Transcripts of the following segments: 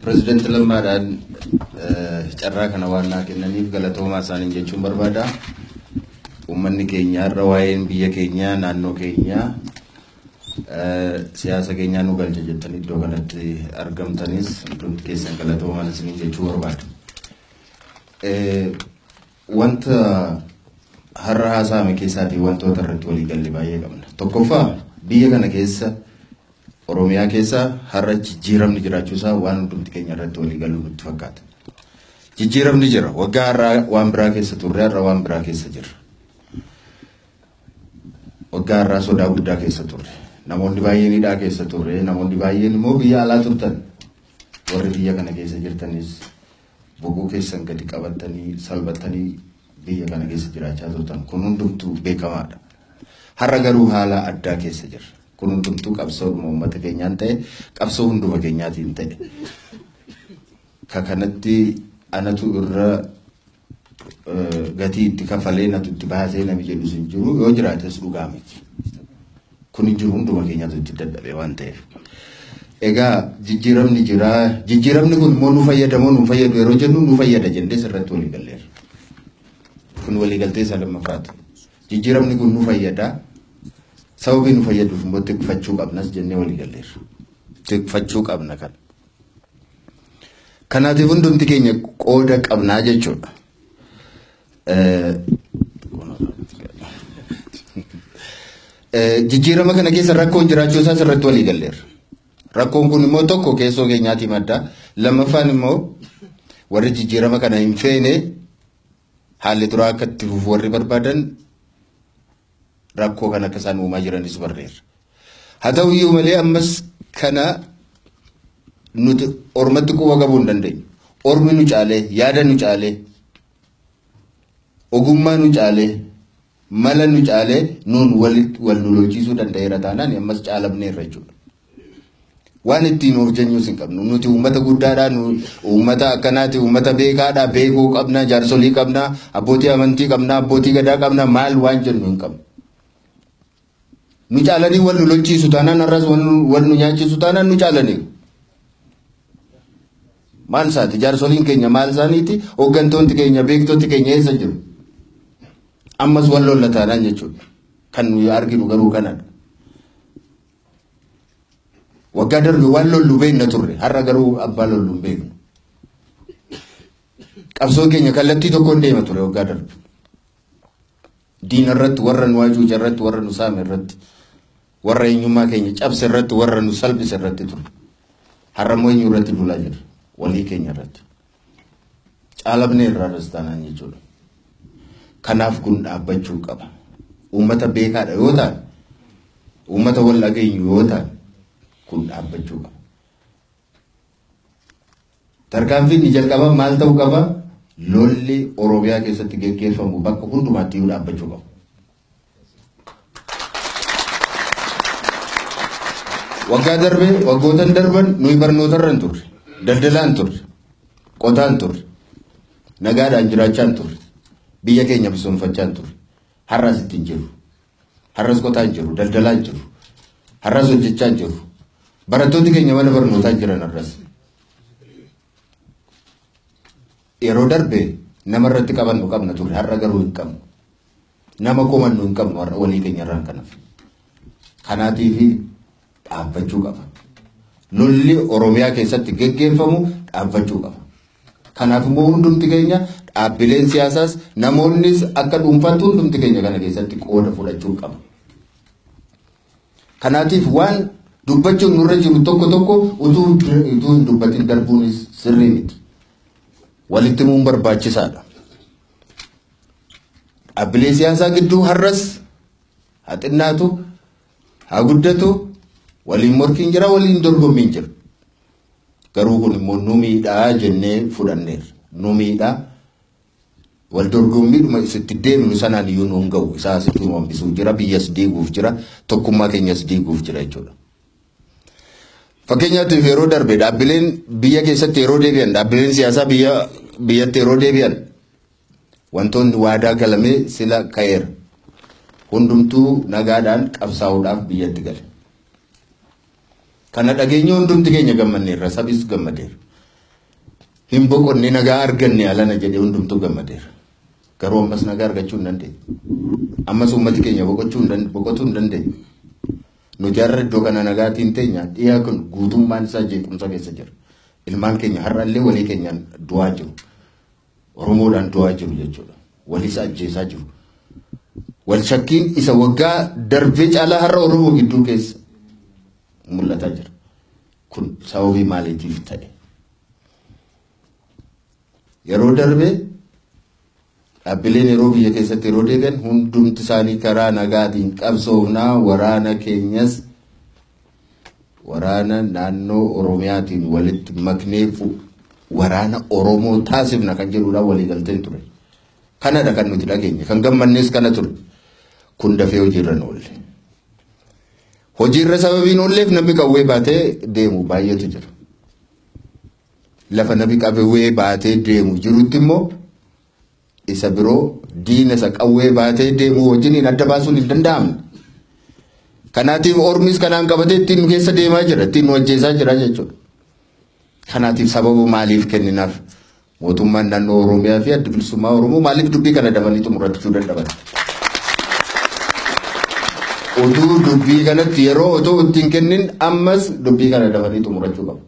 Pireezidaanti Lammaadhaan carraa kana waan naa kennaniif galatoomaa isaaniin jechuun barbaada. Uummanni keenya har'a waa'een biyya keenyaa naannoo keenyaa siyaasa keenyaa nu galcha jettanii iddoo kanatti argamtanis hundumti keessan galatoomaa isiniin jechuu barbaada. Wanta har'a haasa'ame keessaatii wantoota irratti walii galle baay'ee qabna. Tokkoffaa biyya kana keessa Oromiyaa keessa har'a jijjiiramni jiraachuusaa waan hundumti keenya irratti walii galuu nutti fakkaata. Jijjiiramni jira. Waggaa har'aa waan biraa keessa turre har'a waan biraa keessa jirra. Waggaa har'aa sodaa guddaa keessa turre. Namoonni baay'een hidhaa keessa turre. Namoonni baay'een immoo biyya alaa turtan. Warri biyya kana keessa jirtanis Boboo keessan gadi qabattanii salphattanii biyya kana keessa jiraachaa turtan kun hundumtuu beekamaadha. Har'a garuu haala addaa keessa jirra. Kun hundumtuu qabsoodhuma uummata keenyaan ta'e qabsoo hunduma keenyaatiin ta'e. Ka kanatti anatu irra eh, gatii itti kafalee natu itti baasee nami jedhus hin jiru yoo jiraates dhugaa miti. Kun hin jiru hunduma keenyaatu itti dadhabee waan ta'eef. Egaa jijjiiramni jira. Jijjiiramni kun immoo nu fayyada moo nu fayyadu yeroo jennu nu fayyada jennee sirratti walii galleerra. Kun walii galtee isaa lammaffaati. Jijjiiramni kun nu fayyada. Sababii nu fayyaduuf immoo tikfachuu qabnas jennee walii galleerra. Tikfachuu qabna kana. Kanaatiif hundumti keenya qooda qabnaa jechuudha. Jijjiirama kana keessa rakkoon jiraachuu isaas irratti walii galleerra. Rakkoon kun immoo tokko keessoo keenyaatii madda. Lammaffaan immoo warri jijjiirama kana hin feene haalli duraa akka itti fufu warri barbaadan rakkoo kana akka isaan uumaa jiranis barreerra. Haa ta'u iyyuu malee ammas kana nuti ormatti quba qabuu hin dandeenyu. Ormi nu caalee, yaada nu caalee, ogummaa nu caalee, mala nu caalee nuun wal nu lolchiisuu danda'eera taanaan ammas caalamneerra jechuudha. Waan ittiin of jeenyuus hin qabnu. Nuti uummata guddaadha. Uummata akkanaati. Uummata beekaadha. Beekoo qabna. Jaarsolii qabna. Abbootii amantii qabna. Abbootii gadaa qabna. Maal waan jennu hin qabnu. Nu caalanii wal nu lolchiisu taanaan har'as wal nu nyaachisu taanaan nu caalanii. Maal isaati? Jaarsoliin keenya maal isaaniiti? Hooggantoonni keenya beektonni keenya eessa jiru? Ammas wal lolla taanaan jechuudha. Kan nuyi arginu garuu kanadha. Waggaa darbe waan lollu beekna turre har'a garuu abbaa lollu hin beeknu. Qabsoo keenya kallattii tokkoon deema ture waggaa darbe. Diina irratti warra nu hacuuce irratti warra nu saame irratti warra eenyummaa keenya cabse irratti warra nu salphise irratti ture. Har'a immoo eenyu irratti duulaa jirra walii keenya irratti. Caalamnee irraa rastaanaan jechuudha. Kanaaf kun dhaabbachuu qaba. Uummata beekaadha yoo ta'an, uummata wal dhageenyu yoo ta'an kun dhaabbachuu qaba. Tarkaanfiin ni jalqaba maal ta'uu qaba? Lolli Oromiyaa keessatti geggeeffamu bakka hundumaatti iyyuu dhaabbachuu qaba. Waggaa darbe waggootan darban nuyi barnootarra hin turre, daldalaa hin turre, qotaa hin turre, nagaadhaan jiraachaa hin turre, biyya keenya misoomfachaa hin turre. Har'as itti hin jiru. Har'as qotaa hin jiru, daldalaa hin jiru. Har'as hojjechaa hin jiru. Barattooti keenya mana barnootaa jiran har'as. Yeroo darbe nama irratti qabannu qabna turre, har'a garuu hin qabnu. Nama komannu hin qabnu har'a walii keenya irraan kanaaf. Kanaatiif dhaabbachuu qaba. Lolli Oromiyaa keessatti geggeeffamu dhaabbachuu qaba. Kanaaf immoo hundumti keenya dhaabbileen siyaasaas namoonnis akka dhuunfaatti hundumti keenya kana keessatti qooda fudhachuu qaba. Kanaatiif waan dubbachuun nurra jiru tokko tokko utuu utuu hin dubbatin darbuunis sirrii miti. Walitti himuun barbaachisaadha. Dhaabbilee siyaasaa gidduu har'as haa xinnaatu haa guddatu waliin morkiin jira waliin dorgommiin jira. Garuu kun immoo nu miidhaa jennee fudhanneerra. Nu miidhaa wal dorgommiidhuma isitti deemnu sanaan iyyuu nu hin ga'u. Isaa asitti nu hambisuu jira biyyas diiguuf jira tokkummaa keenyas diiguuf jira jechuudha. Fakkeenyaatiif yeroo darbe dhaabbileen biyya keessatti yeroo deebi'an dhaabbileen siyaasaa biyya biyyatti yeroo deebi'an Wantoonni waadaa galame sila ka'eera. Hundumtuu nagaadhaan qabsaa'uudhaaf biyyatti gale. Kana dhageenye hundumti keenya gammanneerra, sabis gammadeera. Hin boqonne nagaa arganne alana jedhee hundumtuu gammadeera. Garuu ammas nagaa argachuu hin dandeenye. Ammas uummati keenya boqochuu hin dand- boqotuu hin dandeenye. Nuti har'a iddoo kana nagaatiin teenya dhiyaa kun guutummaan isaa jeequmsa keessa jira. Ilmaan keenya har'allee walii keenyaan du'aa jiru. Oromoodhaan du'aa jiru jechuudha. Walis ajjeesaa jiru. Wal shakkiin isa waggaa darbee caalaa har'a Oromoo gidduu keessa mul'ataa jira. Kun sababii maaliitiif ta'e? Yeroo darbee dhaabbileen yeroo biyya keessatti yeroo deebi'an hundumti isaanii karaa nagaatiin qabsoofnaa waraana keenyas waraana naannoo Oromiyaatiin walitti maknee waraana Oromoo taasifna kan jedhuudhaan waliigalteen ture. Kanadha kan nuti dhageenye. Kan gammannees kana ture. Kun dafee hojiirra hin oolle. Hojiirra sababiin oolleef namni qawwee baatee deemu baay'eetu jira. Lafa namni qawwee baatee deemu jirutti immoo isa biroo diina isa qawwee baatee deemuu wajjiniin adda baasuun hin danda'amne. Kanaatiif ormis kanaan qabatee ittiin nu keessa deemaa jira, ittiin nu ajjeesaa jira jechuudha. Kanaatiif sababa maaliif kenninaaf mootummaan naannoo Oromiyaa fi adda bilisummaa Oromoo maaliif dubbii kana dafanii xumurachuu dadhaban? Utuu dubbii kanatti yeroo otoo ittiin kennin ammas dubbii kana dafanii xumurachuu qabu.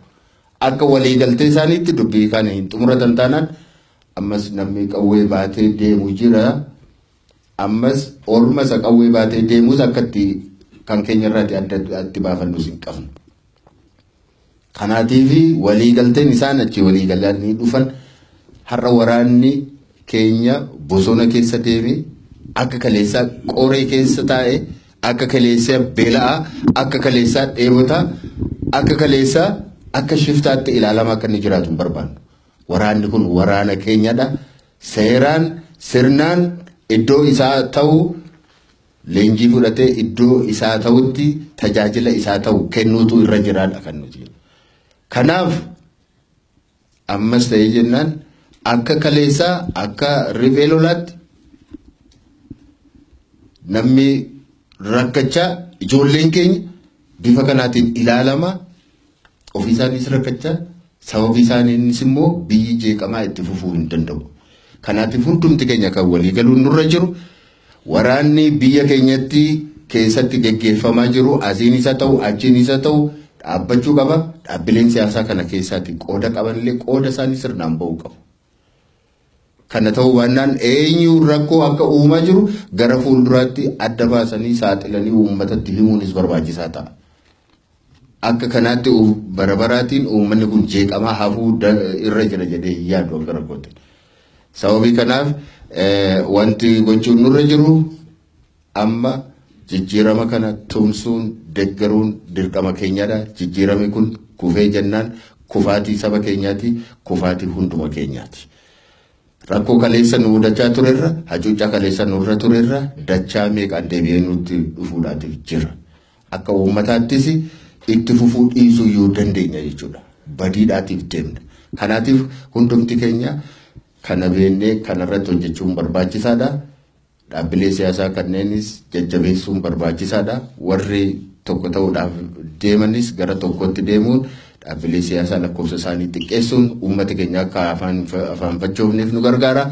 Akka waliigaltee isaaniitti dubbii kana hin xumuratan taanaan Ammas namni qawwee baatee deemu jira. Ammas orma isa qawwee baatee deemus akka itti kan keenya irraati adda itti baafannus hin qabnu. Kanaatiif waliigalteen isaan achi waliigalanii dhufan har'a waraanni keenya bosona keessa deeme akka kaleessaa qoree keessa taa'e akka kaleessaa beela'aa akka kaleessaa dheebotaa akka kaleessaa akka shiftaatti ilaalama akka inni jiraatu hin barbaannu. Waraanni kun waraana keenyadha. Seeraan sirnaan iddoo isaa ta'u leenjii fudhatee iddoo isaa ta'utti tajaajila isaa ta'u kennuutu irra jiraadha kan nuti. Kanaaf ammas ta'ee jennaan akka kaleessaa akka riphee lolaatti namni rakkachaa ijoolleen keenya bifa kanaatiin ilaalama. Ofii isaaniis rakkachaa sababii isaaniinis immoo biyyi jeeqamaa itti fufuu hin danda'u. Kanaatiif hundumti keenya kan walii galuun nurra jiru waraanni biyya keenyatti keessatti geggeeffamaa jiru asiin isa ta'u achiin isa ta'u dhaabbachuu qaba. Dhaabbileen siyaasaa kana keessaatti qooda qabanillee qooda isaanii sirnaan ba'uu qabu. Kana ta'uu baannaan eenyuun rakkoo akka uumaa jiru gara fuulduraatti adda baasanii saaxilanii uummatatti himuunis barbaachisaa ta'a. Akka kanaatti bara baraatiin uummanni kun jeeqamaa hafuu irra jira jedhee hin yaadu akka rakkootti. Sababii kanaaf wanti gochuun nurra jiru Amma jijjiirama kana tumsuun, deggeruun dirqama keenyadha. Jijjiirami kun kufee jennaan kufaatii saba keenyaati, kufaatii hunduma keenyaati. Rakkoo kaleessa nu mudachaa turerra, hacuuccaa kaleessa nurra turerra dachaa meeqaan deebi'ee nutti dhufuudhaatiif jira. Akka uummataattis itti fufuu dhiisuu yoo dandeenya jechuudha. Badiidhaatiif deemna. Kanaatiif hundumti keenya kana beennee kanarratti hojjechuun barbaachisaadha. Dhaabbilee siyaasaa kanneenis jajjabeessuun barbaachisaadha. Warri tokko ta'uudhaaf deemanis gara tokkootti deemuun dhaabbilee siyaasaa lakkoofsa isaanii xiqqeessuun uummata keenya akka afaanfachoofneef nu gargaara.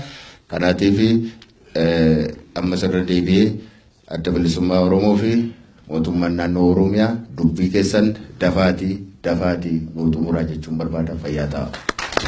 Kanaatiif ammas irra deebi'ee adda bilisummaa Oromoo fi mootummaan naannoo Oromiyaa dubbii keessan dafaatii dafaatii nu xumuraa jechuun barbaada fayyaa ta'a.